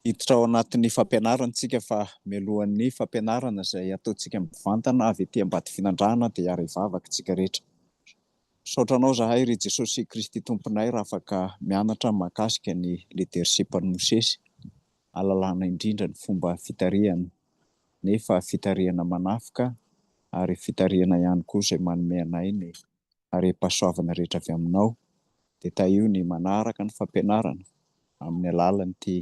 hiditra ao anatin'ny fampianarana isika fa mialohan'ny fampianarana izay ataontsika mivantana avy ety ambady finandrahana dia hiara hivavaka isika rehetra. Misaotra anao zahay ry Jesosy Kristy Tomponay raha afaka mianatra mahakasika ny leadership an'i Mosesy ahalalana indrindra ny fomba fitarihana nefa fitarihana manafika ary fitarihana ihany koa izay manome anay ny harem-pahasoavana rehetra avy aminao dia tahio ny manaraka ny fampianarana amin'ny alalan'ity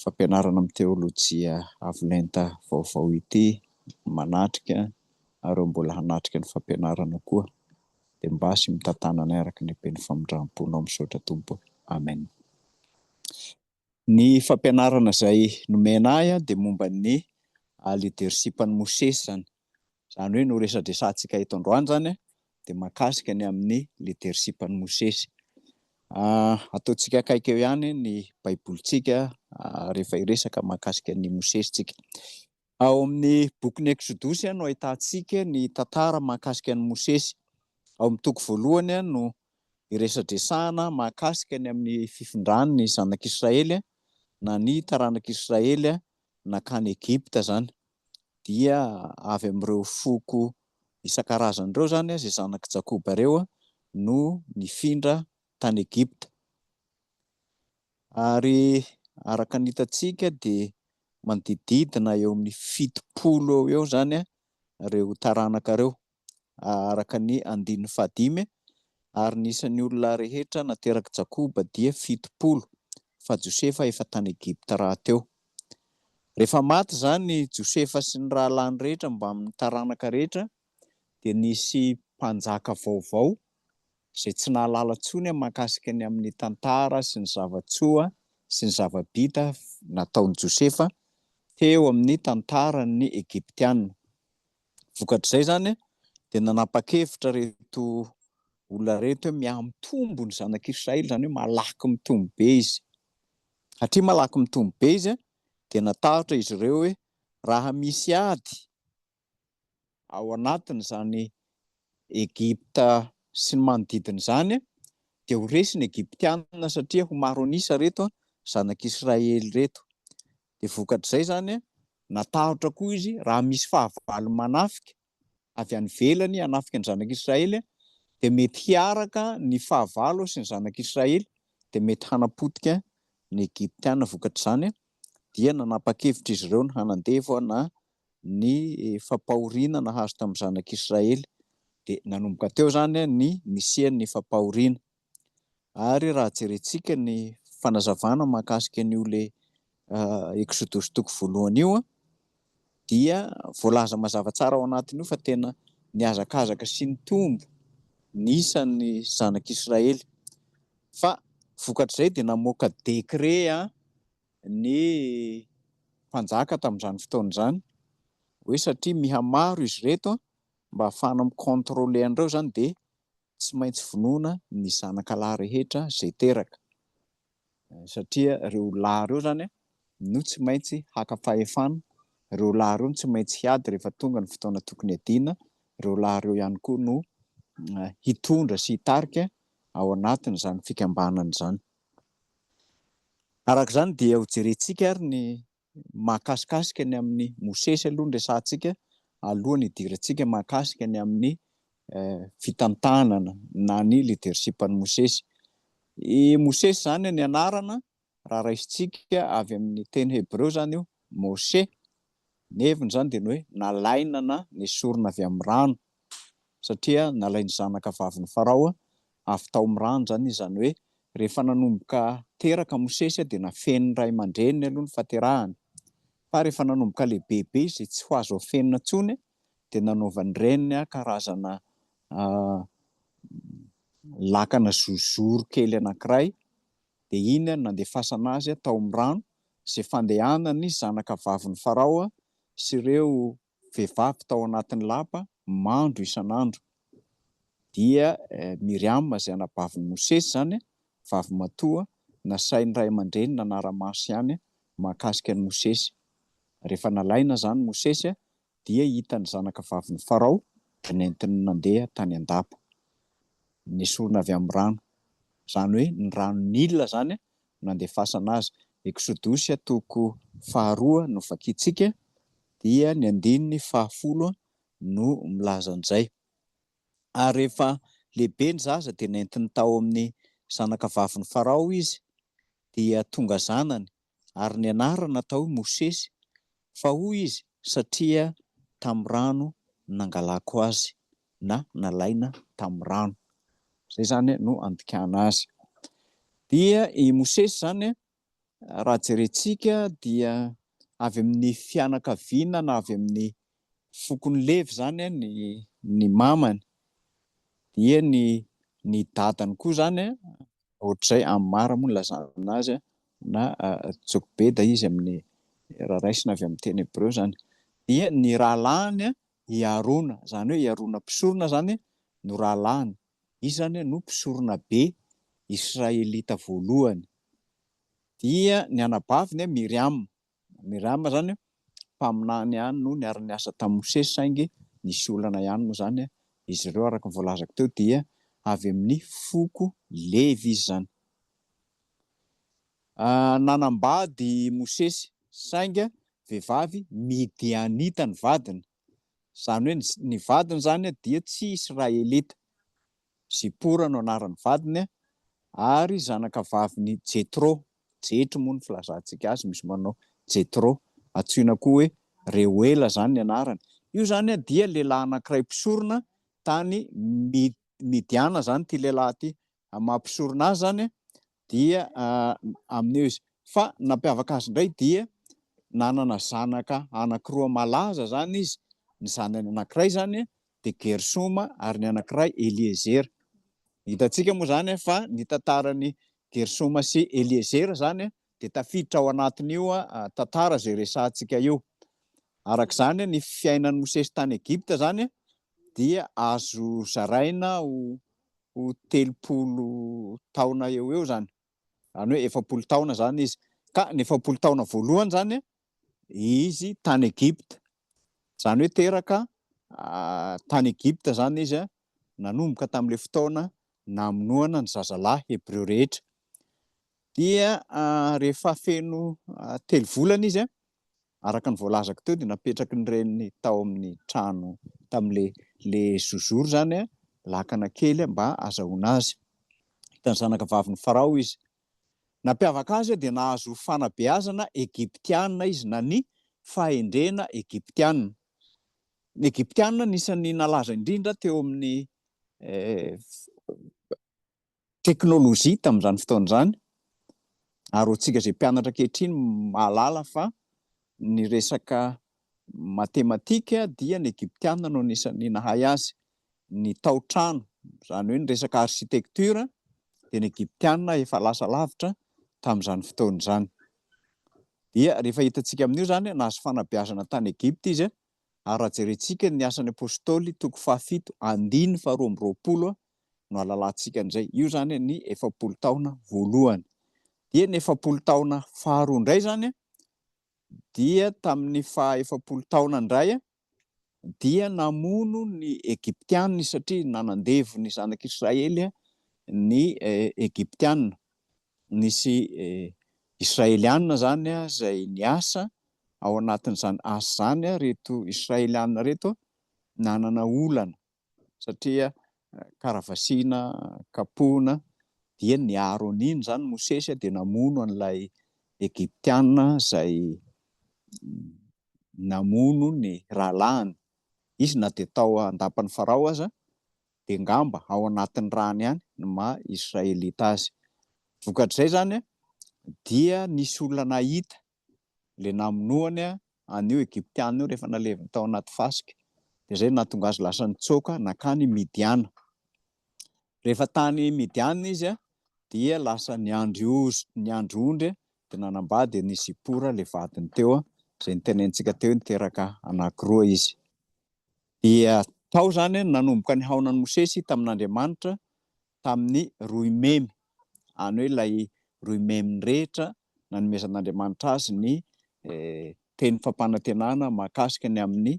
fampianarana amin'ny teolojia avo lenta vaovao ity manatrika nareo mbola hanatrika ny fampianarana koa dia mbasy mitantananay araka ny haben'ny famindram-ponao misaotra Tompo Amen. Ny fampianarana izay nomena ahy dia momba ny leadership an'i Mosesy izany. Izany hoe no resadresantsika eto androany izany dia mahakasika ny amin'ny leadership an'i Mosesy. Ataontsika akaiky eo ihany ny baibolintsika rehefa hiresaka mahakasika an'i Mosesy tsika. Ao amin'ny bokin'ny Eksodosy no ahitantsika ny tantara mahakasika an'i Mosesy. Ao amin'ny toko voalohany no iresadresahana mahakasika ny amin'ny fifindrany ny zanak'Israely na ny taranak'Israely nankany Egypta izany. Dia avy amin'ireo foko isan-karazany ireo izany izay zanak'i Jakoba ireo no nifindra tany Egypta. Ary araka ny hitantsika dia manodididina eo amin'ny fitopolo eo eo izany ireo taranaka ireo araka ny andininy fahadimy ary ny isan'ny olona rehetra naterak'i Jakoba dia fitopolo fa Josefa efa tany Egypta rahateo. Rehefa maty izany Josefa sy ny rahalahiny rehetra mbamin'ny taranaka rehetra dia nisy mpanjaka vaovao izay tsy nahalala intsony mahakasika ny amin'ny tantara sy ny zava-tsoa sy ny zava-bita nataon'i Josefa teo amin'ny tantaran'ny Egyptiana. Vokatr'izay izany dia nanapa-kevitra reto olona reto hoe mihamtombo ny zanak'Israely, izany hoe malaky mitombo be izy. Satria malaky mitombo be izy dia natahotra izy ireo hoe raha misy ady ao anatin'izany Egypta sy ny manodidina izany dia ho resy ny Egyptiana satria ho maro an'isa reto zanak'Israely reto. Dia vokatr'izay izany natahotra koa izy raha misy fahavalo manafika avy any velany hanafika ny zanak'Israely dia mety hiaraka ny fahavalo sy ny zanak'Israely dia mety hanapotika ny Egyptiana vokatr'izany dia nanapa-kevitra izy ireo ny hanandevo na ny fampahoriana nahazo tamin'ny zanak'i Israely. Dia nanomboka teo izany ny nisian'ny fampahoriana. Ary raha jerentsika ny fanazavana mahakasika an'io le Eksodosy toko voalohany io dia voalaza mazava tsara ao anatin'io fa tena nihazakazaka sy nitombo ny isan'ny zanak'i Israely. Fa vokatr'izay dia namoaka décret ny mpanjaka tamin'izany fotoana izany hoe satria mihamaro izy ireto mba hahafahana mi-controler an'ireo izany dia tsy maintsy vonoina ny zanaka lahy rehetra izay teraka satria ireo lahy ireo izany no tsy maintsy haka fahefana, ireo lahy ireo no tsy maintsy hiady rehefa tonga ny fotoana tokony hiadiana, ireo lahy ireo ihany koa no hitondra sy hitarika ao anatin'izany fikambanana izany. Araka izany dia ho jerentsika ary ny mahakasikasika ny amin'i Mosesy aloha ny resahantsika alohan'ny hidirantsika mahakasika ny amin'ny fitantanana na ny leadership-n'i Mosesy. I Mosesy izany ny anarana raha raisintsika avy amin'ny teny hebreo izany io, Moshe, Ny heviny izany dia ny hoe nalaina na nesorina avy amin'ny rano, satria nalain'ny zanaka vavin'i Farao avy tao amin'ny rano izany, izany hoe rehefa nanomboka teraka Mosesy dia nafenin'ny ray aman-dreniny aloha ny fahaterahany, fa rehefa nanomboka lehibebe izy tsy ho azo afenina intsony dia nanaovan'ny reniny karazana lakana zozoro kely anankiray dia iny no nandefasana azy tao amin'ny rano, izay fandehanan'ny zanakavavin'i Farao sy ireo vehivavy tao anatin'ny lapa mando isan'andro. Dia Miriama izay anabavin'i Mosesy izany, vavimatoa, nasain'ny ray aman-dreny nanara-maso ihany mahakasika an'i Mosesy. Rehefa nalaina izany Mosesy dia hita ny zanaka vavin'i Farao dia nentiny nandeha tany an-dapa. Nesorina avy amin'ny rano, izany hoe ny rano Nila izany no nandefasana azy. Eksodosy toko faharoa no vakintsika, dia ny andininy fahafolo no milaza an'izay. Ary rehefa lehibe ny zaza dia nentiny tao amin'ny zanaka vavin'i Farao izy, dia tonga zanany ary ny anarany natao hoe Mosesy, fa hoy izy, satria tamin'ny rano nangalako azy, na nalaina tamin'ny rano. Izay izany no andikana azy. Dia i Mosesy izany, raha jerentsika, dia avy amin'ny fianakaviana na avy amin'ny fokon'i Levy izany ny, ny mamany. Dia ny, ny dadany koa izany Ohatr'izay Ammar moa no nilazana azy na Jokbeda izy amin'ny raha raisina avy amin'ny teny hebreo izany. Dia ny rahalahiny i Harona, izany hoe i Harona mpisorona izany no rahalahiny. Izy izany no mpisoronabe israelita voalohany. Dia ny anabaviny Miriama. Miriama izany mpaminany ihany no niara-niasa tamin'i Mosesy saingy nisy olana ihany moa izany izy ireo araka ny voalazako teo dia avy amin'ny foko Levy izy izany. Nanambady i Mosesy saingy vehivavy Midianita ny vadiny. Izany hoe ny vadiny izany dia tsy Israelita. Zipora no anaran'ny vadiny ary zanakavavin'i Jetro. Jetro moa ny filazantsika azy, misy manao Jetro. Antsoina koa hoe Reuela izany ny anarany. Io izany dia lehilahy anankiray mpisorona tany Midiana izany ity lehilahy ity. amin'ny maha mpisorona azy zany dia amin'ny eo izy fa nampiavaka azy indray dia nanana zanaka anankiroa malaza zany izy ny zanany anankiray zany dia gersoma ary ny anankiray eliezera hitantsika moa zany fa ny tantarany gersoma sy eliezera zany dia tafiditra ao anatin'io tantara zay resantsika io araka izany ny fiainan'ny mosesy tany egipta zany dia azo zaraina ho ho telopolo taona eo eo zany any hoe efapolo taona zany izy ka ny efapolo taona voalohany zany izy tany egipta zany hoe teraka ah, tany egipta zany izy a nanomboka tamin'le fotoana namonoana ny zazalahy hebreo rehetra dia ah, rehefa feno ah, telo volana izy a Araka ny voalazako teo dia napetraky ny reniny tao amin'ny trano tamin'ilay le zozoro izany lakana kely mba azahoana azy. Hitan'ny zanaka vavin'i Farao izy. Nampiavaka azy dia nahazo fanabeazana Egyptiana izy na ny fahendrena Egyptiana. Ny Egyptiana anisan'ny nalaza indrindra teo amin'ny eh, teknolojia tamin'izany fotoana izany ary hoantsika izay mpianatra ankehitriny mahalala fa ny resaka matematika dia ny egyptiana no anisan'ny nahay azy, ny tao-trano izany hoe ny resaka architecture dia ny egyptiana efa lasa lavitra tamin'izany fotoana izany. Dia rehefa hitantsika amin'io izany nahazo fanabeazana tany Egypta izy ary raha jerentsika ny Asan'ny Apostoly toko fahafito andininy faharoa amby roapolo no alalantsika indray, io izany ny efapolo taona voalohany. Dia ny efapolo taona faharoa indray izany dia tamin'ny faha efapolo taona indray dia namono ny Egyptiana satria nanandevo ny zanak'Israely ny eh, Egyptiana. Nisy eh, Israeliana izany izay niasa ao anatin'izany asa izany ireto Israeliana ireto nanana olana satria karavasina, kapohina dia ny Aronina izany Mosesy dia namono an'ilay Egyptiana izay namono ny rahalahiny. Izy na dia tao an-dapan'i Farao aza dia ngamba ao anatin'ny rany ihany ny maha Israelita azy. Vokatr'izay izany dia nisy olona nahita ilay namonoany an'io Egyptiana io rehefa naleviny tao anaty fasika, dia izay no nahatonga azy lasa nitsoaka nankany Midiana. Rehefa tany Midiana izy dia lasa niandry ozy, niandry ondry, dia nanambady an'i Zipora ilay vadiny teo, izay nitenentsika teo, niteraka anankiroa izy. Dia tao izany nanomboka nihaona an'i Mosesy tamin'Andriamanitra, tamin'ny roimemy, any hoe ilay roimeminy rehetra nanomezan'Andriamanitra azy ny teny fampanantenana mahakasika ny amin'ny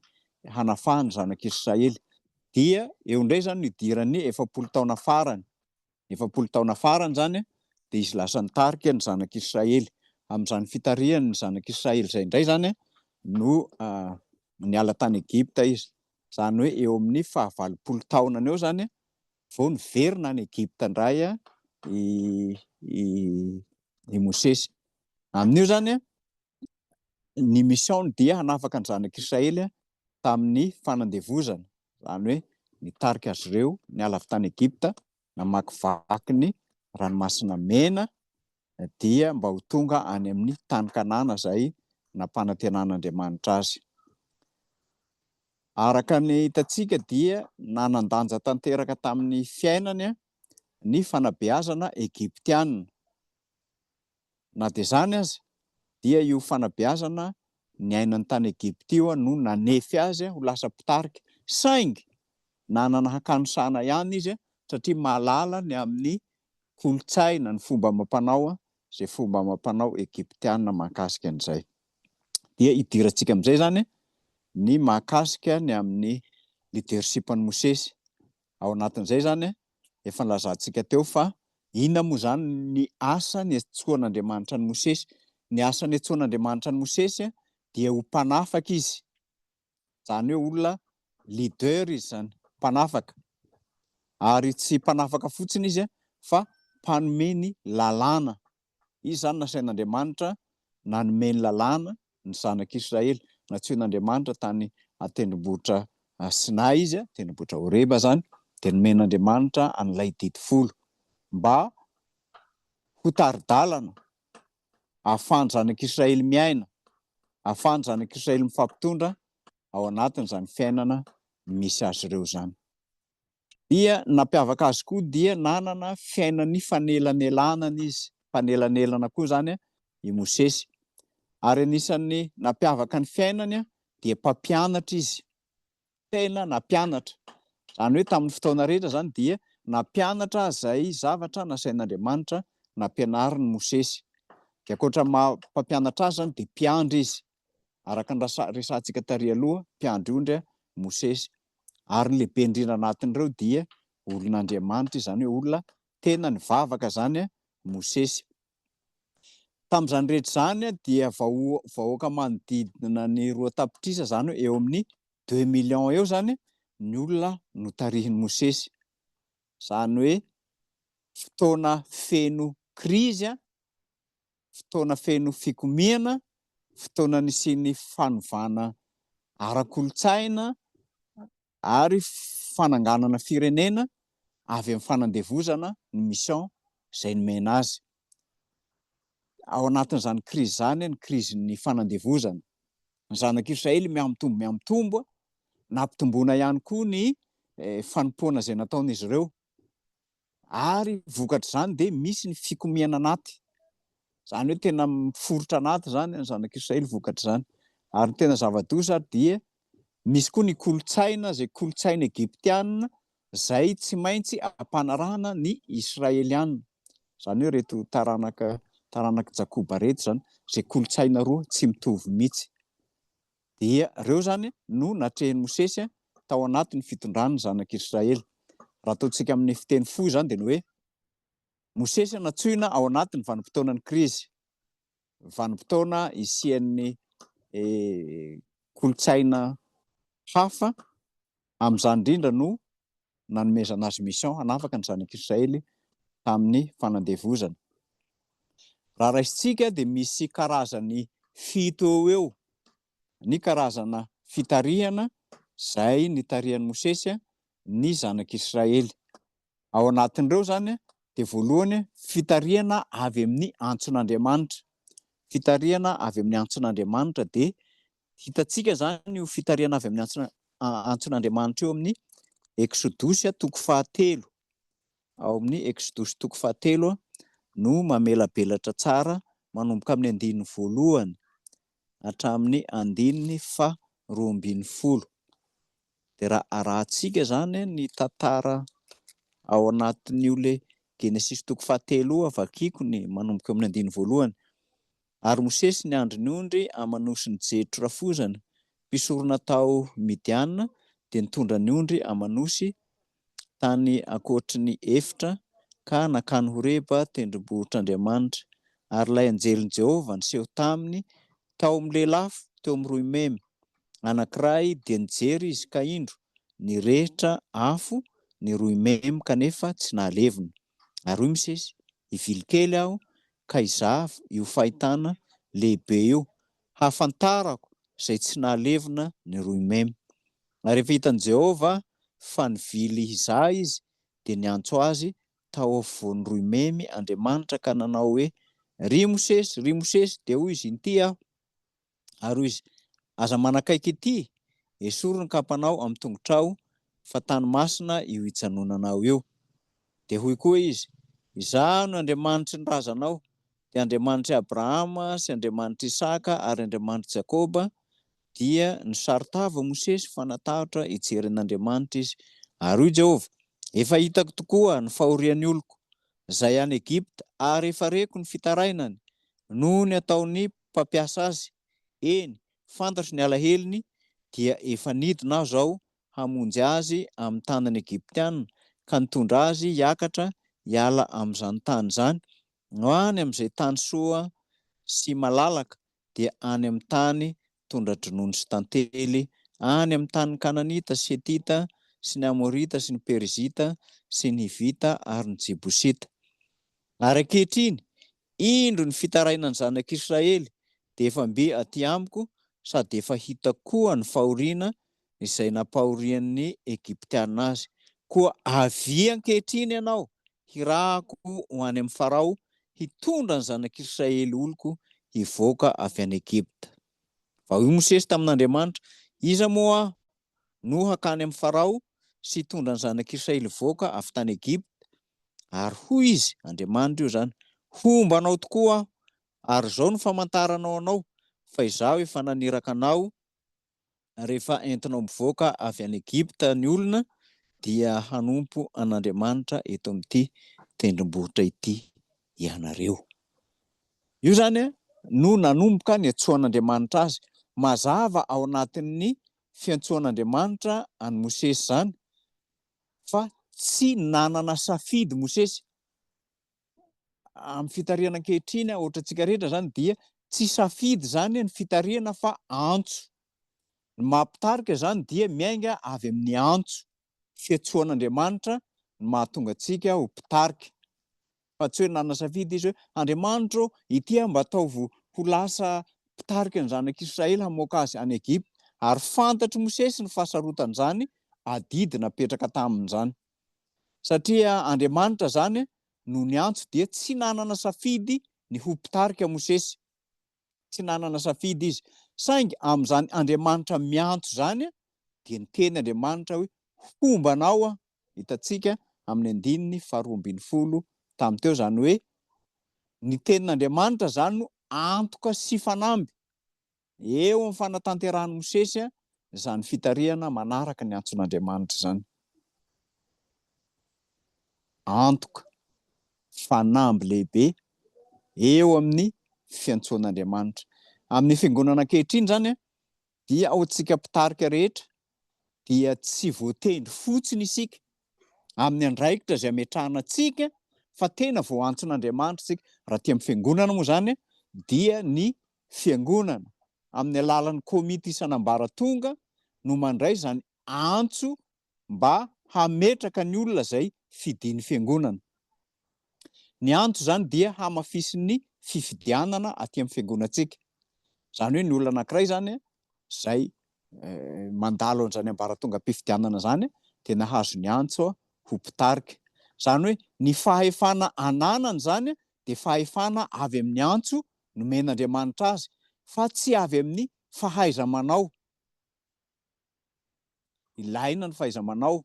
hanafahany zanak'Israely. Dia eo indray izany no idiran'ny efapolo taona farany. Efapolo taona farany izany dia izy lasa nitarika ny zanak'Israely. Amin'izany fitarihany ny zanak'Israely izay indray izany no niala tany Egypta izy. Izany hoe eo amin'ny fahavalopolo taonany eo izany vao niverina any Egypta indray i i i Mosesy. Amin'io zany ny mission-ny dia hanafaka ny zanak'Israely tamin'ny fanandevozana, izany hoe nitarika azy ireo niala avy tany Egypta namakivaky ny ranomasina mena dia mba ho tonga any amin'ny tany Kanana izay nampanantenan'Andriamanitra azy. Araka ny hitantsika dia nanan-danja tanteraka tamin'ny fiainany ny fanabeazana Egyptiana. Na dia izany aza dia io fanabeazana niainany tany Egypta io no nanefy azy ho lasa mpitarika, saingy nanana hakanosana ihany izy satria mahalala ny amin'ny kolontsaina, ny fomba amam-panao, izay fomba amam-panao Egyptiana mahakasika an'izay. Dia hidirantsika amin'izay izany ny mahakasika ny amin'ny leadership an'i Mosesy. Ao anatin'izay izany, efa nilazantsika teo fa inona moa izany ny asa niantsoan'Andriamanitra an'i Mosesy. Ny asa niantsoan'Andriamanitra an'i Mosesy dia ho mpanafaka izy. izany hoe olona leader izy izany, mpanafaka. Ary tsy mpanafaka fotsiny izy fa mpanome ny lalàna. Izy izany nasain'Andriamanitra nanome ny lalàna ny zanak'Israely. Nantsoin'Andriamanitra tany an-tendrombohitra Sinay izy, tendrombohitra Horeba izany, dia nomen'Andriamanitra an'ilay didy folo mba ho tari-dalana ahafahan'ny zanak'Israely miaina, ahafahan'ny zanak'Israely mifampitondra ao anatin'izany fiainana misy azy ireo izany. Dia nampiavaka azy koa dia nanana fiainan'ny fanelanelanana izy, fanelanelana koa izany i Mosesy. Ary anisan'ny nampiavaka ny fiainany dia mpampianatra izy. tena nampianatra. Izany hoe tamin'ny fotoana rehetra izany dia nampianatra izay zavatra nasain'Andriamanitra nampianarin'i Mosesy. Dia ankoatra ny maha mpampianatra azy izany dia mpiandry izy. Araka ny resahantsika tary aloha, mpiandry ondry Mosesy. Ary ny lehibe indrindra anatin'ireo dia olon'Andriamanitra, izany hoe olona tena nivavaka izany Mosesy. Tamin'izany rehetra izany dia vahoaka manodidina ny roa tapitrisa izany eo amin'ny deux millions eo izany ny olona notarihin'i Mosesy. Izany hoe fotoana feno krizy, fotoana feno fikomiana, fotoana nisian'ny fanovana ara-kolontsaina, ary fananganana firenena avy amin'ny fanandevozana ny mission izay nomena azy. Ao anatin'izany krizy izany ny krizin'ny fanandevozana. Ny zanak'Israely miha-mitombo miha-mitombo, nampitomboina ihany koa ny eh, fanompoana izay nataon'izy ireo. Ary vokatr'izany dia misy ny fikomiana anaty. Izany hoe tena miforitra anaty izany ny zanak'Israely vokatr'izany. Ary ny tena zava-doza ary dia misy koa ny kolontsaina, izay kolontsaina egyptiana, izay tsy maintsy ampanarahana ny Israeliana. Izany hoe ireto taranaka taranak'i Jakoba ireto izany, izay kolontsaina roa tsy mitovy mihitsy. Dia ireo izany no natrehin'i Mosesy tao anatin'ny fitondrany ny zanak'i Israely. Raha ataontsika amin'ny fiteny fohy izany dia ny hoe Mosesy nantsoina ao anatin'ny vanim-potoanan'ny krizy, vanim-potoana isian'ny eh, kolontsaina hafa Amin'izany indrindra no nanomezana azy mission hanafaka ny zanak'Israely tamin'ny fanandevozana. Raha raisintsika dia misy karazany fito eo eo ny karazana fitarihana izay nitarihan'i Mosesy ny zanak'Israely. Ao anatin'ireo izany dia voalohany fitarihana avy amin'ny antson'Andriamanitra. Fitarihana avy amin'ny antson'Andriamanitra dia Hitantsika izany io fitarihana avy amin'ny antso, antson'Andriamanitra eo amin'ny Eksodosy toko fahatelo. Ao amin'ny Eksodosy toko fahatelo no mamelabelatra tsara manomboka amin'ny andininy voalohany hatramin'ny andininy fa roa ambin'ny folo. Dia raha arahantsika izany ny tantara ao anatin'io le Genesisy toko fahatelo io, avakiko ny manomboka amin'ny andininy voalohany. Ary Mosesy niandry ny ondry aman'osin'i Jetro rafozana, mpisorona tao Midiana, dia nitondra ny ondry aman'osy tany ankoatry ny efitra ka nankany Horeba, tendrombohitr'Andriamanitra. Ary ilay anjelin'i Jehovah niseho taminy tao amin'ny lelafo teo amin'ny roimemy anankiray, dia nijery izy, ka indro, nirehitra afo ny roimemy, kanefa tsy nahalevina. ary hoy Mosesy, Hivily kely aho ka hizava io fahitana lehibe io, hahafantarako izay tsy nahalevona ny rohy mem. Ary rehefa hitan'i Jehovah fa nivily hizaha izy, dia niantso azy tao afovoan'ny rohy memy Andriamanitra ka nanao hoe, Ry Mosesy, ry Mosesy! Dia hoy izy, Inty aho. Ary hoy izy, Aza manakaiky ity, esory ny kapanao amin'ny tongotrao, fa tany masina io ijanonanao io. Dia hoy koa izy, Izaho no Andriamanitry ny razanao, dia Andriamanitr'i Abrahama sy Andriamanitr'i Isaka ary Andriamanitr'i Jakoba, dia nisaro-tava Mosesy fa natahotra hijery an'Andriamanitra izy. Ary hoy Jehovah, Efa hitako tokoa ny fahorian'ny oloko, izay any Egypta, ary efa reko ny fitarainany, noho ny ataon'ny mpampiasa azy, eny, fantatro ny alahelony, dia efa nidina aho izao hamonjy azy amin'ny tanan'ny Egyptiana, ka nitondra azy hiakatra hiala amin'izany tany izany, ho any amin'izay tany soa sy malalaka, dia any amin'ny tany tondra-dronono sy tantely, any amin'ny tanin'ny Kananita sy Hetita sy ny Amorita sy ny Perizita sy ny Hivita ary ny Jebosita. Ary ankehitriny, Indro ny fitarainan'ny zanak'Israely dia efa mby aty amiko sady efa hitako koa ny fahoriana izay nampahorian'ny Egyptiana azy. Koa avia ankehitriny ianao hirahako ho any amin'i Farao hitondra ny zanak'Israely oloko hivoaka avy any Egypta. Fa hoy Mosesy tamin'Andriamanitra, Iza moa aho no hakany amin'i Farao sy hitondra ny zanak'Israely hivoaka avy tany Egypta? Ary hoy Izy, Andriamanitra io izany, Homba anao tokoa Aho, ary izao no famantaranao anao fa Izaho efa naniraka anao, rehefa entinao mivoaka avy any Egypta ny olona, dia hanompo an'Andriamanitra eto amin'ity tendrombohitra ity ianareo. Io izany no nanomboka niantsoan'Andriamanitra Azy. Mazava ao anatin'ny fiantsoan'Andriamanitra an'i Mosesy izany, fa tsy nanana safidy Mosesy. Amin'ny fitarihana ankehitriny, ohatra antsika rehetra izany dia tsy safidy izany ny fitarihana fa antso. Ny maha-mpitarika izany dia miainga avy amin'ny antso. Fiantsoan'Andriamanitra no mahatonga antsika ho mpitarika. fa tsy hoe nanasafidy izy hoe, Andriamanitro ô, ity aho mba ataovy ho lasa mpitarika ny zanak'Israely hamoaka azy any Egypta. Ary fantatr'i Mosesy ny fahasarotan'izany adidy napetraka taminy izany. Satria Andriamanitra izany no niantso dia tsy nanana safidy ny ho mpitarika Mosesy. tsy nanana safidy izy, saingy amin'izany Andriamanitra miantso izany dia niteny Andriamanitra hoe, Homba anao aho, hitantsika amin'ny andininy faharoa ambin'ny folo tamin'ny teo, izany hoe ny tenin'Andriamanitra izany no antoka sy fanamby eo amin'ny fanatanterahan'i Mosesy izany fitarihana manaraka ny antson'Andriamanitra izany. Antoka, fanamby lehibe eo amin'ny fiantsoan'Andriamanitra. Amin'ny fiangonana ankehitriny izany, dia ao antsika mpitarika rehetra, dia tsy voatendry fotsiny isika amin'ny andraikitra izay ametrahana antsika, fa tena voantson'Andriamanitra isika. Raha tia amin'ny fiangonana moa izany, dia ny Fiangonana, amin'ny alalan'ny komity isan'ambaratonga, no mandray izany antso mba hametraka ny olona izay fidin'ny Fiangonana. Ny antso izany dia hamafisin'ny fifidianana aty amin'ny Fiangonantsika. Izany hoe ny olona anankiray izany izay mandalo an'izany ambaratongam-pifidianana izany dia nahazo ny antso ho mpitarika. Izany hoe ny fahefana ananany izany dia fahefana avy amin'ny antso nomen'Andriamanitra azy fa tsy avy amin'ny fahaiza-manao. Ilaina ny fahaiza-manao,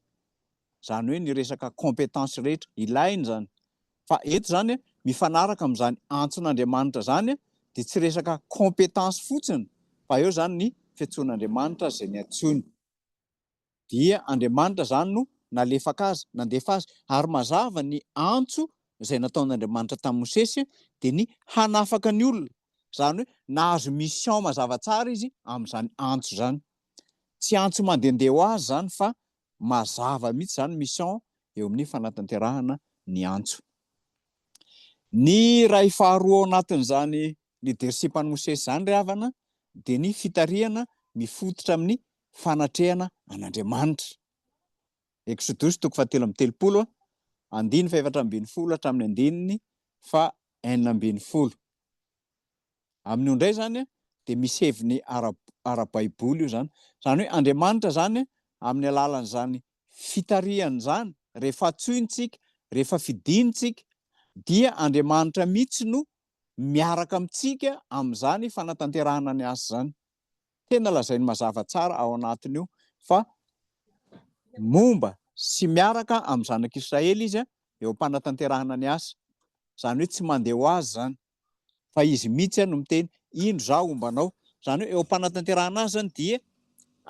izany hoe ny resaka compétence rehetra, ilaina izany. Fa eto izany mifanaraka amin'izany antson'Andriamanitra izany dia tsy resaka compétence fotsiny fa eo izany ny fiantsoan'Andriamanitra azy izay niantsoany. dia Andriamanitra izany no nalefaka azy, nandefa azy, ary mazava ny antso izay nataon'Andriamanitra tamin'i Mosesy dia ny hanafaka ny olona, izany hoe nahazo mission mazava tsara izy amin'izany antso izany. Tsy antso mandehandeha ho azy izany fa mazava mihitsy izany mission eo amin'ny fanatanterahana ny antso. Ny iray faharoa ao anatin'izany leadership an'i Mosesy izany ry havana dia ny fitarihana mifototra amin'ny fanatrehana an'Andriamanitra. Eksodosy toko fahatelo amby telopolo, andiny fahefatra ambin'ny folo hatramin'ny andininy fa enina ambin'ny folo. Amin'io indray izany dia misy heviny ara-baiboly io izany. Izany hoe Andriamanitra izany amin'ny alalan'izany fitarihany izany, rehefa antsointsika, rehefa fidintsika, dia Andriamanitra mihitsy no miaraka amintsika amin'izany fanatanterahana ny asa izany. tena lazainy mazava tsara ao anatin'io fa momba sy miaraka amin'ny zanak'Israely izy a, eo am-panatanterahana ny asa. Izany hoe tsy mandeha ho azy izany, fa izy mihitsy no miteny, indro izaho homba anao. Izany hoe eo am-panatanterahana azy izany dia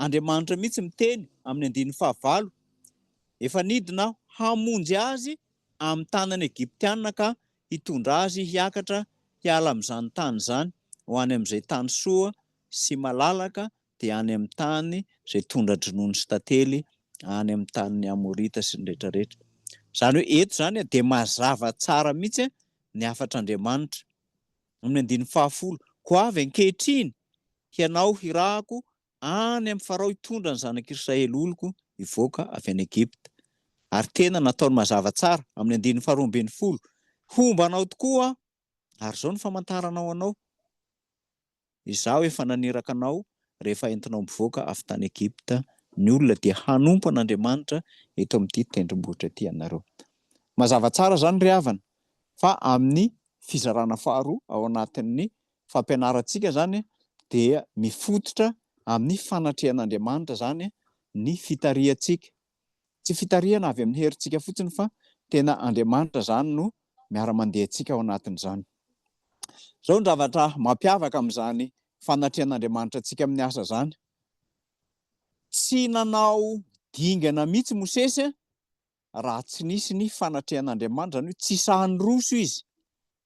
Andriamanitra mihitsy miteny amin'ny andininy fahavalo, efa nidina aho hamonjy azy amin'ny tanan'ny Egyptiana ka hitondra azy hiakatra hiala amin'izany tany izany ho any amin'izay tany soa sy malalaka, dia any amin'ny tany izay tondra-dronono sy tantely, any amin'ny tanin'ny Amorita sy ny rehetrarehetra. Izany hoe eto izany dia mazava tsara mihitsy ny hafatr'Andriamanitra, amin'ny andininy fahafolo, Koa avy ankehitriny hianao hirahako Any amin'i Farao hitondra ny zanak'i Israely oloko hivoaka avy any Egypta. Ary tena nataony mazava tsara amin'ny andininy faharoa ambin'ny folo, Homba anao tokoa aho, ary izao no famantarana ho anao, Izaho efa naniraka anao rehefa entinao mivoaka avy tany Egypta ny olona dia hanompo an'Andriamanitra eto amin'ity tendrombohitra ity ianareo. Mazava tsara izany ry havana fa amin'ny fizarana faharoa ao anatin'ny fampianarantsika izany dia mifototra amin'ny fanatrehan'Andriamanitra izany ny fitarihantsika. Tsy fitarihana avy amin'ny herintsika fotsiny fa tena Andriamanitra izany no miara-mandeha antsika ao anatin'izany. Izao ny zavatra mampiavaka amin'izany fanatrehan'Andriamanitra antsika amin'ny asa izany. Tsy nanao dingana mihitsy Mosesy raha tsy nisy ny fanatrehan'Andriamanitra, izany hoe tsy sahy niroso izy,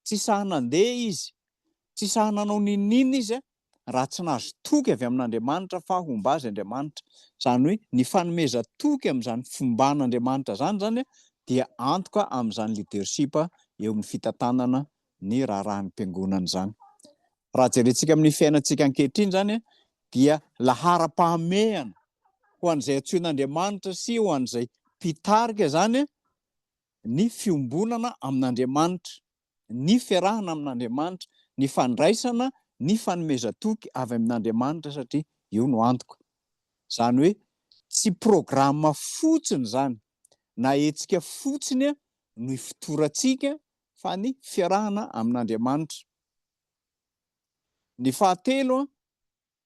tsy sahy nandeha izy, tsy sahy nanao n'inon'inona izy raha tsy nahazo toky avy amin'Andriamanitra fa homba azy Andriamanitra. Izany hoe ny fanomezan-toky amin'izany fomban'Andriamanitra izany izany dia antoka amin'izany leadership eo amin'ny fitantanana ny raharahan'ny mpiangonana izany. Raha jerentsika amin'ny fiainantsika ankehitriny izany dia laharam-pahamehana ho an'izay antsoin'Andriamanitra sy ho an'izay mpitarika izany ny fiombonana amin'Andriamanitra, ny fiarahana amin'Andriamanitra, ny fandraisana ny fanomezan-toky avy amin'Andriamanitra satria io no antoka. Izany hoe tsy programa fotsiny izany na hetsika fotsiny no ifotorantsika fa ny fiarahana amin'Andriamanitra. Ny fahatelo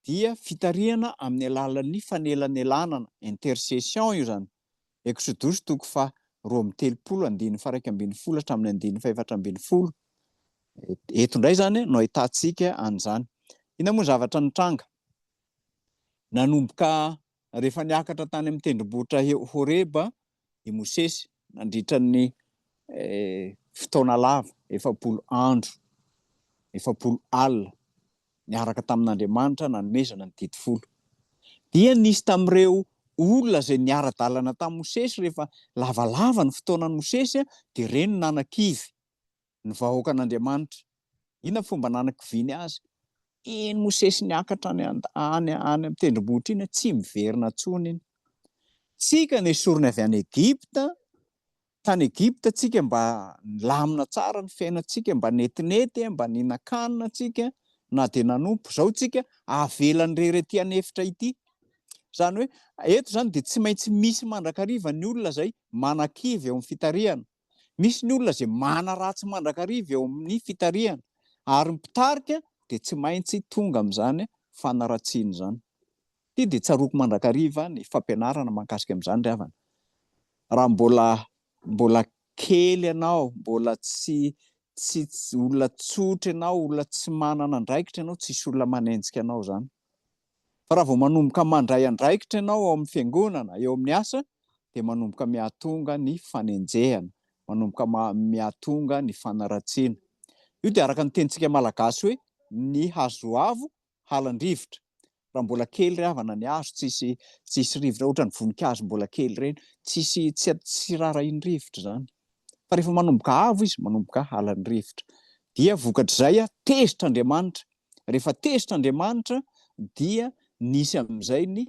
dia fitarihana amin'ny alalan'ny fanelanelanana, intercession io izany, Eksodosy toko faha roa amby telopolo andininy faha iraika ambin'ny folo hatramin'ny andininy fahefatra ambin'ny folo. Eto indray izany no ahitantsika an'izany. Inona moa ny zavatra nitranga? Nanomboka rehefa niakatra tany amin'ny tendrombohitra Horeba i Mosesy nandritra ny fotoana lava, efapolo andro, efapolo alina, niaraka tamin'Andriamanitra nanomezana ny Didy Folo. Dia nisy tamin'ireo olona izay niara-dalana tamin'i Mosesy, rehefa lavalava ny fotoanan'i Mosesy, dia ireny no nanakivy. ny vahoakan'Andriamanitra. Inona fomba nanakiviany azy? Iny Mosesy niakatra any an, any, any amin'ny tendrombohitra iny an, tsy miverina intsony iny. Tsika nesoriny avy any Egypta, tany Egypta tsika mba nilamina tsara ny fiainantsika, mba netinety, mba nihinan-kanina tsika, na dia nanompo. Izao tsika avelany irery aty an'efitra ity. Izany hoe, eto izany dia tsy maintsy misy mandrakariva ny olona izay manakivy eo amin'ny fitarihana. Misy ny olona izay manaratsy mandrakariva eo amin'ny fitarihana ary ny mpitarika dia tsy maintsy tonga amin'izany fanaratsiana izany. Ity dia tsaroako mandrakariva ny fampianarana mahakasika amin'izany ry havana. Raha mbola mbola kely ianao, mbola tsy tsy olona tsotra ianao, olona tsy manana andraikitra ianao, tsisy olona manenjika anao izany. Fa raha vao manomboka mandray andraikitra ianao ao amin'ny fiangonana, eo amin'ny asa, dia manomboka mihatonga ny fanenjehana, manomboka mihatonga ny fanaratsiana. Io dia araka ny tenintsika malagasy hoe, ny hazo avo halan-drivotra. Raha mbola kely ry havana ny hazo, tsisy tsisy rivotra, ohatran'ny voninkazo mbola kely ireny, tsisy tsy tsy rarahian'ny rivotra izany. Fa rehefa manomboka avo izy, manomboka halan'ny rivotra. Dia vokatr'izay, tezitra Andriamanitra. Rehefa tezitra Andriamanitra, dia nisy amin'izay ny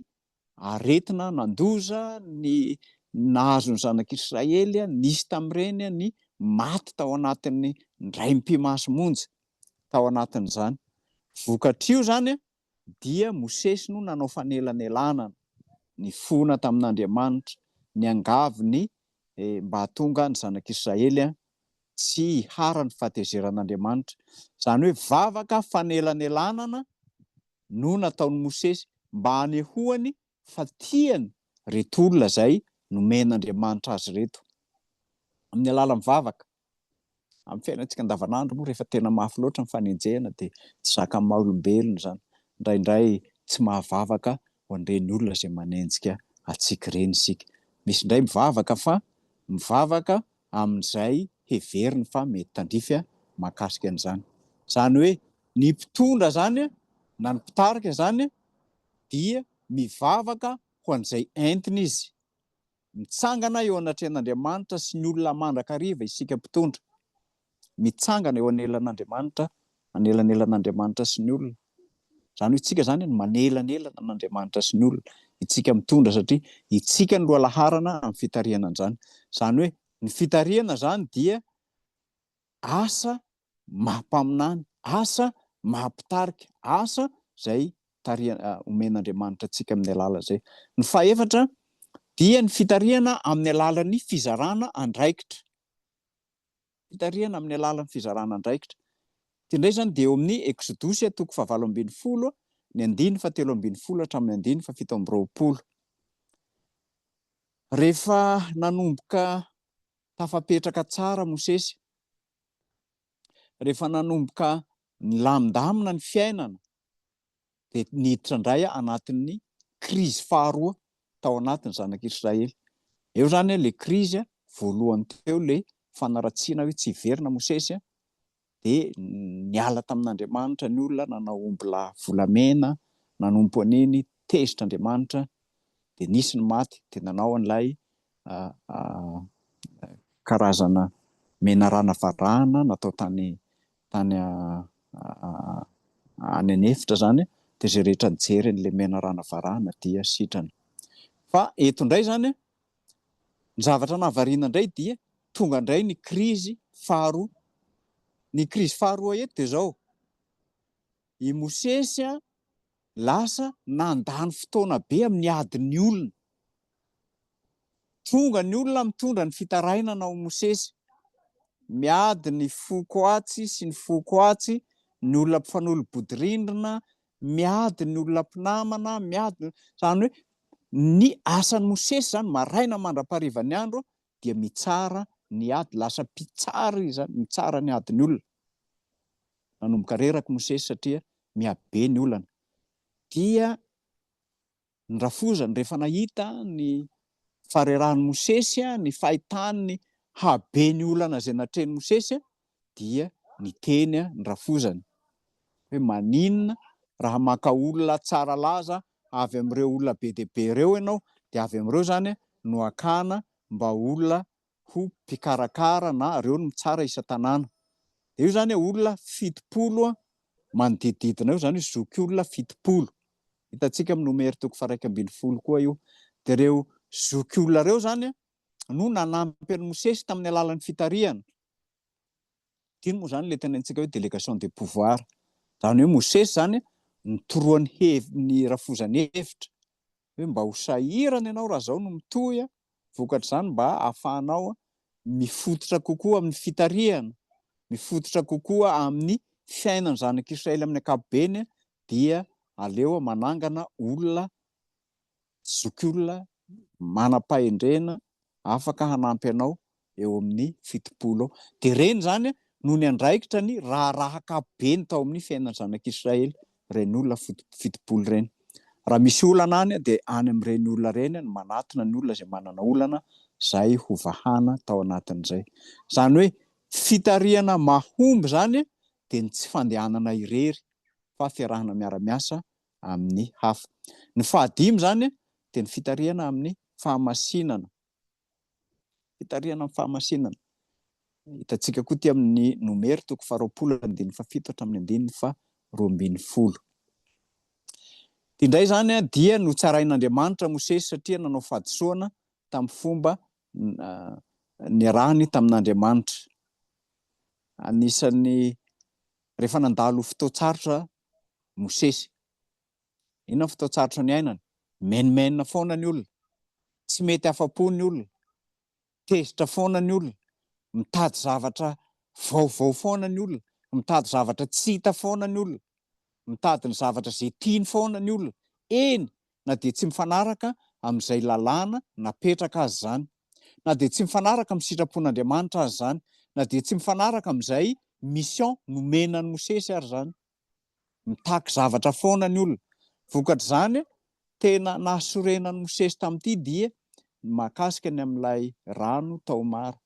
aretina nandoza ny nahazo ny zanak'Israely, nisy tamin'ireny ny maty tao anatin'ny ndray mpimasy monja tao anatin'izany. Vokatr'io izany dia Mosesy no nanao fanelanelanana, nifona tamin'Andriamanitra, niangavy ny mba hahatonga ny zanak'Israely tsy hiharan'ny fahatezeran'Andriamanitra. Izany hoe vavaka fanelanelanana no nataon'i Mosesy mba hanehoany fa tiany ireto olona izay nomen'Andriamanitra azy ireto, amin'ny alalan'ny vavaka. Amin'ny fiainantsika andavanandro moa rehefa tena mafy loatra ny fanenjehana dia tsy zakan'ny maha olombelona izany. Indraindray tsy mahavavaka ho an'ireny olona izay manenjika antsika ireny isika. Misy indray mivavaka fa mivavaka amin'izay heveriny fa mety tandrify mahakasika an'izany. Izany hoe ny mpitondra izany na ny mpitarika izany dia mivavaka ho an'izay entiny izy. Mitsangana eo anatrehan'Andriamanitra sy ny olona mandrakariva isika mpitondra. Mitsangana eo anelan'Andriamanitra, anelanelan'Andriamanitra sy ny olona. Izany hoe isika izany no manelanelana an'Andriamanitra sy ny olona, isika mitondra satria isika no loha laharana amin'ny fitarihana an'izany. Izany hoe ny fitarihana izany dia asa maha mpaminany, asa maha mpitarika, asa izay tarihana omen'Andriamanitra antsika amin'ny alala izay. Ny fahefatra dia ny fitarihana amin'ny alalan'ny fizarana andraikitra, fitarihana amin'ny alalan'ny fizarana andraikitra. Ity indray izany dia eo amin'ny Eksodosy toko fahavalo ambin'ny folo ny andiny fahatelo ambin'ny folo hatramin'ny andiny fahafito amby roapolo. Rehefa nanomboka tafapetraka tsara Mosesy rehefa nanomboka nilamindamina ny fiainana dia niditra indray anatin'ny krizy faharoa tao anatin'ny zanak'Israely. Eo izany ilay krizy voalohany teo, ilay fanaratsiana hoe tsy hiverina Mosesy dia niala tamin'Andriamanitra ny olona nanao ombilahy volamena nanompo an'iny tezitra Andriamanitra dia nisy ny maty dia nanao an'ilay karazana menarana varahana natao tany tany any an'efitra zany dia izay rehetra nijery an'ilay menarana varahana dia sitrana fa eto indray zany Ny zavatra nahavariana indray dia tonga indray ny krizy faharoa. Ny krizy faharoa eto dia izao, i Mosesy lasa nandany fotoana be amin'ny adin'ny olona. Tonga ny olona mitondra ny fitarainana ao Mosesy. Miady ny foko atsy sy ny foko atsy, ny olona mpifanolo-bodirindrina, miady ny olona mpinamana, miady ny olona, izany hoe ny asan'i Mosesy izany maraina mandra-pahariva ny andro dia mitsara ny ady, lasa mpitsara izy izany, mitsara ny adin'ny olona. Nanomboka reraka i Mosesy satria miha be ny olana. Dia ny rafozany rehefa nahita ny faharerahan'i Mosesy, ny fahitany ny haben'ny olana izay natrehin'i Mosesy dia niteny ny rafozany hoe maninona raha maka olona tsara laza avy amin'ireo olona be dia be ireo ianao dia avy amin'ireo izany no hakana mba olona ho mpikarakara na reo no mitsara isa tanàna de io zany olona fitopolo a manodidididina eo zany io zoky olona fitopolo hitantsika amin'ny nomer toko faraika ambin'ny folo koa io de reo zoky olona reo zany a no nanampy an'i mosesy tamin'ny alalan'ny fitarihana tino moa zany le tena antsika hoe délégation de pouvoir zany hoe mosesy zany a nitoroany hev ny rafozany hevitra hoe mba ho sahirana ianao raha zao no mitohy a Vokatr'izany, mba hahafahanao mifototra kokoa amin'ny fitarihana, mifototra kokoa amin'ny fiainan'ny zanak'Israely amin'ny ankapobeny, dia aleo manangana olona, zokiolona, manam-pahendrena, afaka hanampy anao eo amin'ny fitopolo eo. Dia ireny izany no niandraikitra ny raharaha ankapobeny tao amin'ny fiainan'ny zanak'Israely, ireny olona fitopolo ireny. Raha misy olana any dia any amin'ireny olona ireny no manatona ny olona izay manana olana izay hovahana tao anatin'izay. Izany hoe fitarihana mahomby izany dia ny tsy fandehanana irery fa fiarahana miara-miasa amin'ny hafa. Ny fahadimy izany dia ny fitarihana amin'ny fahamasinana. Fitarihana ny fahamasinana. Hitantsika koa ity amin'ny Nomer toko faharoapolo andininy fahafito hatramin'ny andininy faha roa ambin'ny folo. Ity indray izany dia notsarain'Andriamanitra Mosesy satria nanao fahadisoana tamin'ny fomba niarahany tamin'Andriamanitra. Anisan'ny rehefa nandalo fotoan-tsarotra Mosesy. Inona ny fotoan-tsarotra niainana? Menomenona foana ny olona, tsy mety afa-po ny olona, tezitra foana ny olona, mitady zavatra vaovao foana ny olona, mitady zavatra tsy hita foana ny olona, mitady ny zavatra izay tiany foana ny olona, eny na dia tsy mifanaraka amin'izay lalàna napetraka aza izany, na dia tsy mifanaraka amin'ny sitrapon'Andriamanitra aza izany, na dia tsy mifanaraka amin'izay mission nomena an'i Mosesy ary izany. Mitaky zavatra foana ny olona. Vokatr'izany, tena nahasorenan'i Mosesy tamin'ity dia ny mahakasika ny amin'ilay rano tao Mara.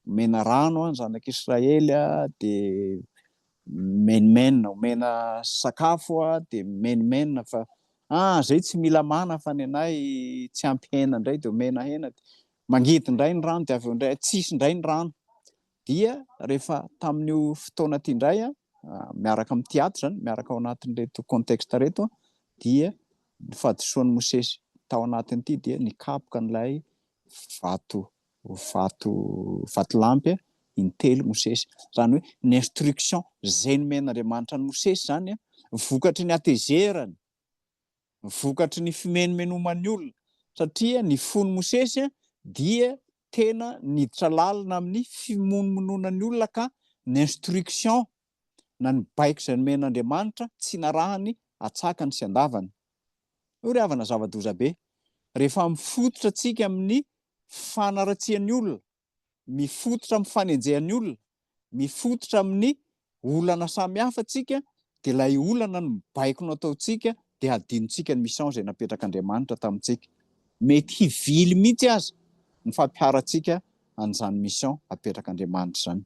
Omena rano ny zanak'Israely dia mimenomenona, omena sakafo dia mimenomenona fa ah zay tsy mila mana fa ny anay tsy ampy hena indray dia omena hena. Mangidy indray ny rano dia avy eo indray tsisy indray ny rano. dia rehefa tamin'io fotoana ity indray an, miaraka amin'ny teatra izany, miaraka ao anatin'ireto contexte ireto an, dia ny fahadisoan'i Mosesy tao anatin'ity dia nikapoka an'ilay vato vato vatolampy intelo Mosesy, izany hoe ny instruction izay nomen'Andriamanitra an'i Mosesy izany an, vokatry ny hatezerany, vokatry ny fimenomenoman'ny olona, satria ny fon'i Mosesy dia tena niditra lalina amin'ny fimonomonoana ny olona ka ny instruction na ny baiko izay nomen'Andriamanitra tsy narahany atsakany sy andavany. Io ry havana zava-doza be. Rehefa mifototra tsika amin'ny fanaratsian'ny olona, mifototra amin'ny fanenjehan'ny olona, mifototra amin'ny olana samihafa tsika dia ilay olana no mibaiko no ataontsika dia hadinontsika ny mission izay napetrak'Andriamanitra tamintsika. Mety hivily mihitsy aza ny fampiharantsika an'izany mission apetrak'Andriamanitra izany.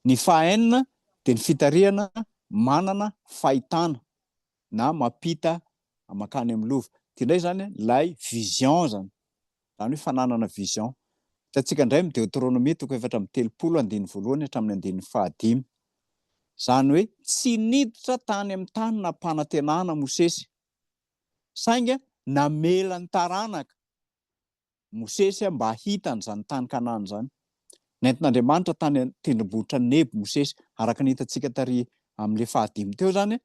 Ny fahaenina dia ny fitarihana manana fahitana na mampita mankany amin'ny lova. Ity indray izany ilay vision izany. Izany hoe fananana vision. Hitantsika indray amin'ny Deoteronomia toko efatra amby telopolo andininy voalohany hatramin'ny andininy fahadimy. Izany hoe tsy niditra tany amin'ny tany nampanantenana Mosesy, sainga namela ny taranaka Mosesy mba hahita an'izany tany Kanana izany. Nentin'Andriamanitra tany an-tendrombohitra Nebo Mosesy, araka ny hitantsika tary amin'ilay fahadimy teo izany,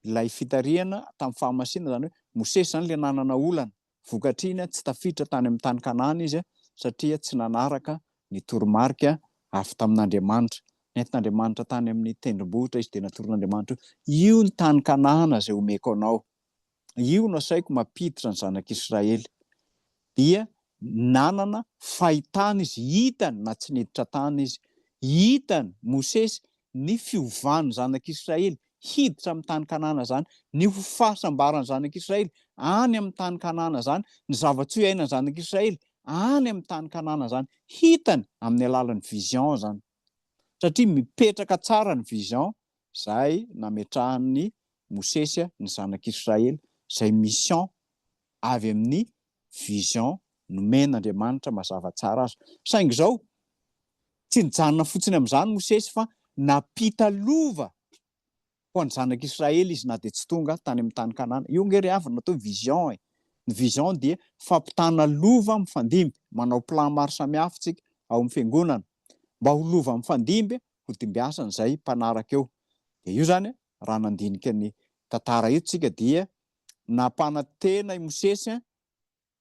ilay fitarihana tamin'ny fahamasina, izany hoe Mosesy izany ilay nanana olana, Vokatr'iny, tsy tafiditra tany amin'ny tany Kanana izy, satria tsy nanaraka ny toromarika avy tamin'Andriamanitra. Nentin'Andriamanitra tany amin'ny tendrombohitra izy, dia natoron'Andriamanitra hoe, Io ny tany Kanana izay homeko anao. Io no asaiko mampiditra ny zanak'Israely. Dia nanana fahitana izy, hitany na tsy niditra tany izy. Hitan'i Mosesy ny fiovan'ny zanak'Israely, hiditra amin'ny tany Kanana izany, ny ho fahasambaran'ny zanak'Israely any amin'ny tany Kanana izany, ny zava-tsoa iainan'ny zanak'Israely any amin'ny tany Kanana izany. Hitany amin'ny alalan'ny vision izany, satria mipetraka tsara ny vision izay nametrahan'i Mosesy ny zanak'Israely, izay mission avy amin'ny vision nomen'Andriamanitra mazava tsara aza. Saingy izao, tsy nijanona fotsiny amin'izany Mosesy fa nampita lova ho an'ny zanak'Israely izy na dia tsy tonga tany amin'ny tany Kanana. Io nge ry havana atao vision e. Ny vision dia fampitana lova mifandimby, manao plan maro samihafa tsika ao amin'ny fiangonana mba ho lova mifandimby ho dimbiasan'izay mpanaraka eo. Dia io zany raha nandinika ny tantara io tsika dia nampanantena i Mosesy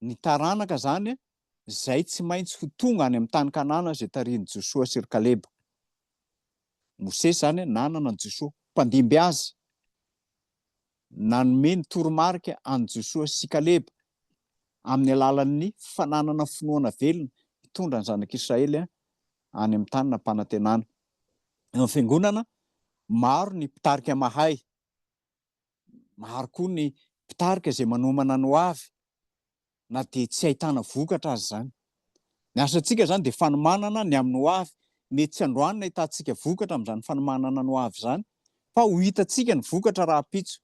ny taranaka izany izay tsy maintsy ho tonga any amin'ny tany Kanana izay tarihin'i Josoa sy ry Kaleba. Mosesy izany nanana an'i Josoa, mpandimby azy. Nanome ny toromarika an'i Josoa sy Kaleba amin'ny alalan'ny fananana finoana velona hitondra ny zanak'Israely any amin'ny tany nampanantenana. Eo amin'ny fiangonana, maro ny mpitarika mahay. Maro koa ny mpitarika izay manomana ny ho avy na dia tsy ahitana vokatra aza izany. Ny asantsika izany dia fanomanana ny amin'ny ho avy. Mety tsy androany no ahitantsika vokatra amin'izany fanomanana ny ho avy izany fa ho hitantsika ny vokatra rahampitso.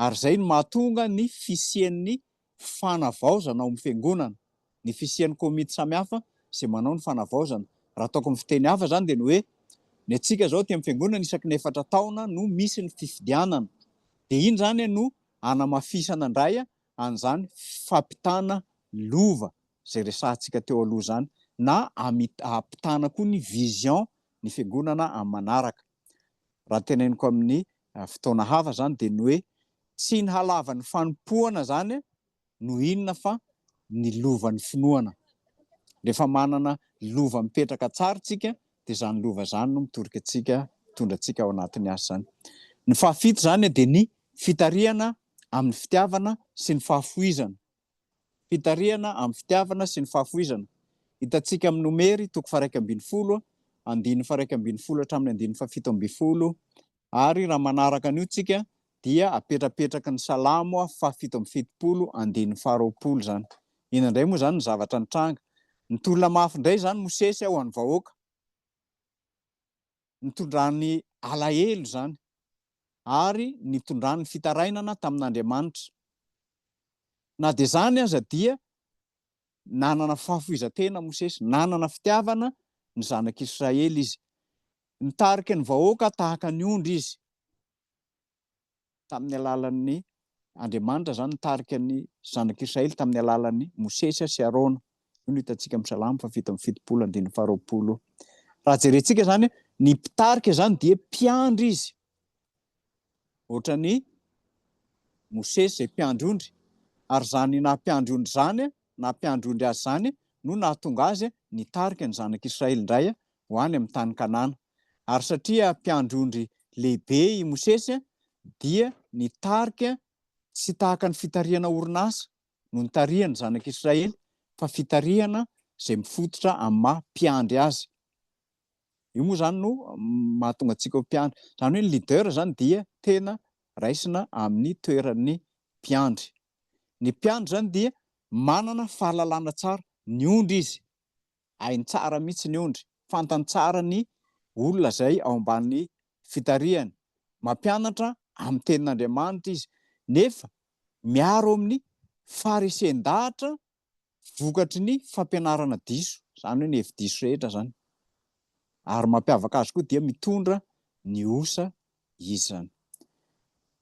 Ary izay no mahatonga ny fisian'ny fanavaozana ao amin'ny fiangonana, ny fisian'ny komity samihafa izay manao ny fanavaozana. Raha ataoko amin'ny fiteny hafa izany dia ny hoe, ny antsika izao aty amin'ny fiangonana isaky ny efatra taona no misy ny fifidianana. Dia iny izany no hanamafisana indray an'izany fampitana lova izay resahantsika teo aloha izany, na hampitana koa ny vision ny fiangonana amin'ny manaraka. Raha ny teneniko amin'ny fotoana hafa izany dia ny hoe tsy ny halavan'ny fanompoana izany no inona fa ny lovan'ny finoana. Rehefa manana lova mipetraka tsara isika dia izany lova izany no mitorika antsika, mitondra antsika ao anatin'ny asa izany. Ny fahafito izany dia ny fitarihana amin'ny fitiavana sy ny fahafoizana. Fitarihana amin'ny fitiavana sy ny fahafoizana. Hitantsika amin'ny Nomery toko faharaika ambin'ny folo, andininy faharaika ambin'ny folo hatramin'ny andininy fahafito ambin'ny folo. Ary raha manaraka an'io tsika dia apetrapetraky ny Salamo fahafito amby fitopolo, andininy faharoapolo izany. Inona indray moa izany ny zavatra nitranga? Nitolona mafy indray izany Mosesy ho an'ny vahoaka. nitondrany alahelo izany ary nitondrany fitarainana tamin'Andriamanitra. Na dia izany aza dia nanana fahafoizan-tena Mosesy, nanana fitiavana ny zanak'Israely izy. Nitarika ny vahoaka tahaka ny ondry izy. tamin'ny alalan'ny Andriamanitra izany nitarika ny zanak'Israely tamin'ny alalan'ny Mosesy sy Arona. Io no hitantsika amin'ny Salamo fahafito amby fitopolo andininy faharoapolo. Raha jerentsika izany, ny mpitarika izany dia mpiandry izy. Ohatra ny Mosesy izay mpiandry ondry, ary izany na mpiandry ondry izany, na mpiandry ondry azy izany, no nahatonga azy nitarika ny zanak'Israely indray ho any amin'ny tany Kanana. Ary satria mpiandry ondry lehibe i Mosesy, dia ny tarika tsy tahaka ny fitarihana orinasa no nitarihan'ny zanak'Israely, fa fitarihana izay mifototra amin'ny maha mpiandry azy. Io moa izany no mahatonga antsika ho mpiandry. Izany hoe ny leader izany dia tena raisina amin'ny toeran'ny mpiandry. Ny mpiandry izany dia manana fahalalana tsara ny ondry izy. hainy tsara mihitsy ny ondry, fantany tsara ny olona izay ao ambany fitarihany, mampianatra amin'ny tenin'Andriamanitra izy, nefa miaro amin'ny faresen-dahatra vokatry ny fampianarana diso, izany hoe ny hevi-diso rehetra izany, ary mampiavaka azy koa dia mitondra ny osa izy izany.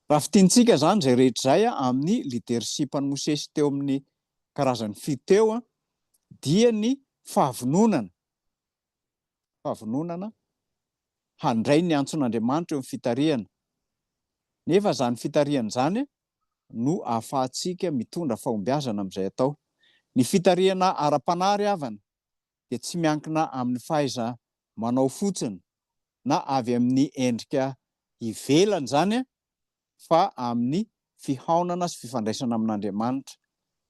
Raha fintinitsika izany izay rehetra izay amin'ny leadership-n'i Mosesy teo amin'ny karazany fito teo dia ny fahavononana, fahavononana handray ny antson'Andriamanitra eo amin'ny fitarihana, nefa izany fitarihana izany no ahafahantsika mitondra fahombiazana amin'izay atao. Ny fitarihana ara-panahy ry havana dia tsy miankina amin'ny fahaiza-manao fotsiny na avy amin'ny endrika ivelany izany fa amin'ny fihaonana sy fifandraisana amin'Andriamanitra.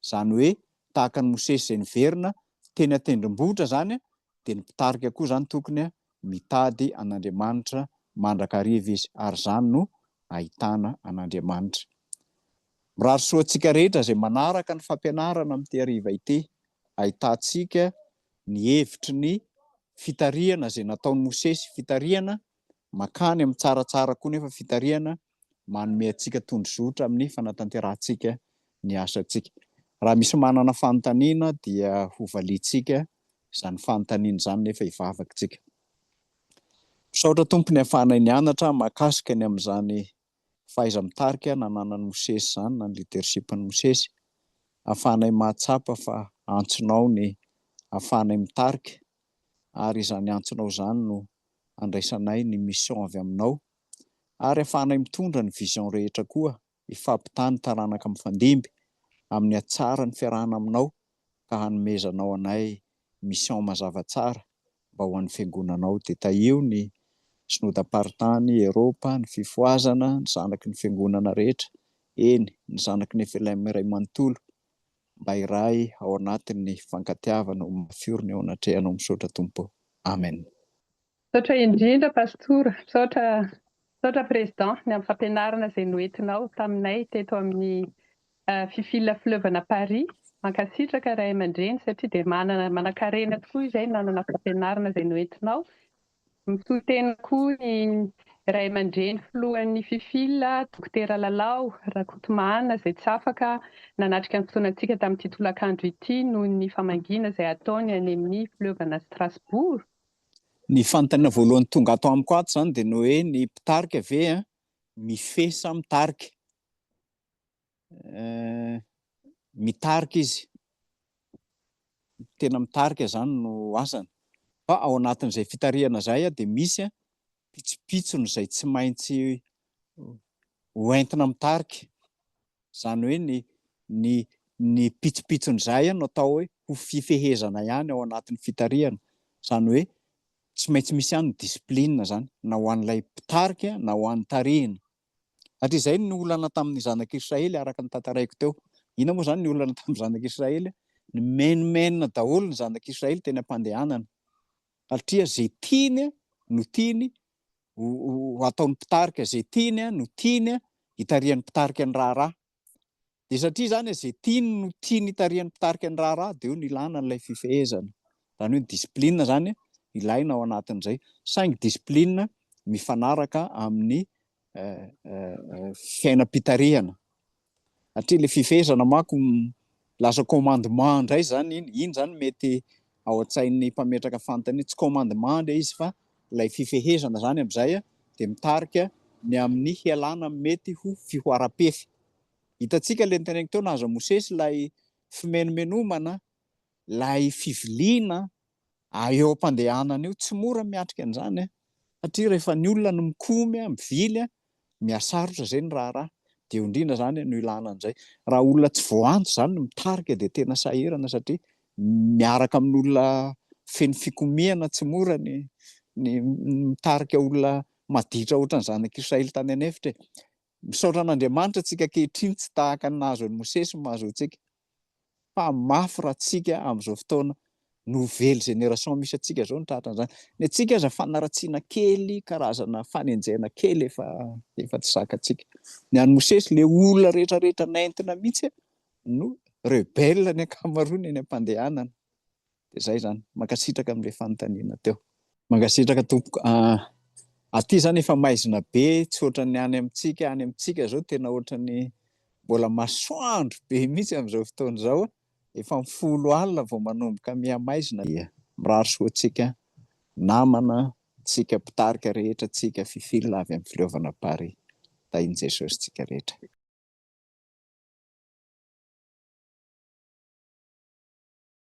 Izany hoe tahaka an'i Mosesy izay niverina teny an-tendrombohitra izany dia ny mpitarika koa izany tokony mitady an'Andriamanitra mandrakariva izy ary izany no ahitana an'Andriamanitra. Mirary soa antsika rehetra izay manaraka ny fampianarana amin'ity hariva ity. Ahitantsika ny hevitry ny fitarihana izay nataon'i Mosesy, fitarihana Makany amin'ny tsaratsara koa nefa fitarihana manome antsika tondrozotra amin'ny fanatanterahantsika ny asantsika. Raha misy manana fanontaniana dia hovaliantsika izany fanontaniana izany nefa hivavaka isika. Misaotra Tompo niafahana nianatra mahakasika ny amin'izany fahaiza-mitarika nananan'i Mosesy izany na ny leadership-n'i Mosesy. Ahafahanay mahatsapa fa antsonao ny ahafahanay mitarika ary izany antsonao izany no andraisanay ny mission avy aminao. Ary ahafahanay mitondra ny vision rehetra koa hifampitaha ny taranaka mifandimby amin'ny hatsaran'ny fiarahana aminao ka hanomezanao anay mission mazava tsara mba ho an'ny Fiangonana ao, dia tahio ny Synodam-paritany Eropa, ny Fifohazana, ny zanaky ny Fiangonana rehetra, eny, ny zanaky ny FLM iray manontolo, mba hiray ao anatin'ny fankatiavana ho mafy orina eo anatrehanao misaotra Tompo Amen. Misaotra indrindra Pastora, misaotra. Misaotra Président ny amin'ny fampianarana izay noentinao taminay teto amin'ny Fifil Fleuve-na Paris. Mankasitraka Ray aman-dReny satria dia manana manankarena tokoa izay nanana fampianarana izay noentinao. Misoa tena koa ny Ray aman-dReny Filohan'ny Fifil, Dokotera Lalao Rakotomahana izay tsy afaka nanatrika ny fotoanantsika tamin'ity tolakandro ity noho ny famangiana izay ataony any amin'ny Fleuve-na Strasbourg. Ny fanontaniana voalohany tonga ato amiko ato izany dia ny hoe ny mpitarika ve mifehy sa mitarika? Mitarika izy, tena mitarika izany no asany. Fa ao anatin'izay fitarihana izay dia misy pitsopitsony izay tsy maintsy hoentina mitarika. Izany hoe ny ny ny pitsopitson'izay no atao hoe ho fifehezana ihany ao anatin'ny fitarihana. Izany hoe tsy maintsy misy ihany ny discipline izany na ho an'ilay mpitarika na ho an'ny tarihina. Satria izay ny olana tamin'ny zanak'Israely araka ny tantaraiko teo. Inona moa izany ny olana tamin'ny zanak'Israely? Nimenomenona daholo ny zanak'Israely teny am-pandehanana. satria zay tiany no tiany ho ataon'ny mpitarika, zay tiany no tiany hitarihan'ny mpitarika ny raharaha. Dia satria izany zay tiany no tiany hitarihan'ny mpitarika ny raharaha dia eo no ilana an'ilay fifehezana. Izany hoe discipline izany ilaina ao anatin'izay. Saingy discipline mifanaraka amin'ny eh, eh, eh, fiainam-pitarihana. Hatria le fifehezana manko lasa commandement ndray zany iny, iny zany mety ao an-tsain'ny mpametraka fanontaniana, tsy commandement le izy fa lay fifehezana zany amzay de mitarika ny amin'ny hialana amin'ny mety ho fihoaram-pefy. Hitantsika le niteneniko teo nahazo an'i Mosesy lay fimenomenomana, lay fiviliana ary eo am-pandehanana io tsy mora miatrika an'izany an! satria rehefa ny olona no mikomy an, mivily an, mihasarotra izay ny raharaha, dia eo indrindra izany no ilana an'izay, raha olona tsy voahanto izany no mitarika dia tena sahirana satria miaraka amin'olona feno fikomiana tsy mora ny ny mitarika olona maditra ohatran'ny zanak'i Israely tany an'efitra e! Misaotra an'Andriamanitra antsika ankehitriny tsy tahaka ny nahazo an'i Mosesy ny mahazo antsika. fa mafy raha tsika amin'izao fotoana nouvelle génération misy antsika zao no tratra an'izany. Ny antsika aza fanaratsiana kely, karazana fanenjehana kely efa efa tsy zakantsika. Ny an'i Mosesy le olona rehetra rehetra nentina mihitsy no rebelle ny ankamaroany eny am-pandehanana. Dia zay zany. Mankasitraka amle fanontaniana teo. Mankasitraka tompoko ah. Aty zany efa maizina be tsy ohatran'ny any amintsika, any amintsika zao tena ohatran'ny mbola masoandro be mihitsy amin'izao fotoana izao, efa amin'ny folo alina vao manomboka mihamaizina. Mirary soa antsika namana, tsika mpitarika rehetra, tsika fifil avy amin'ny fileovana Paris. Tahin'i Jesosy tsika rehetra.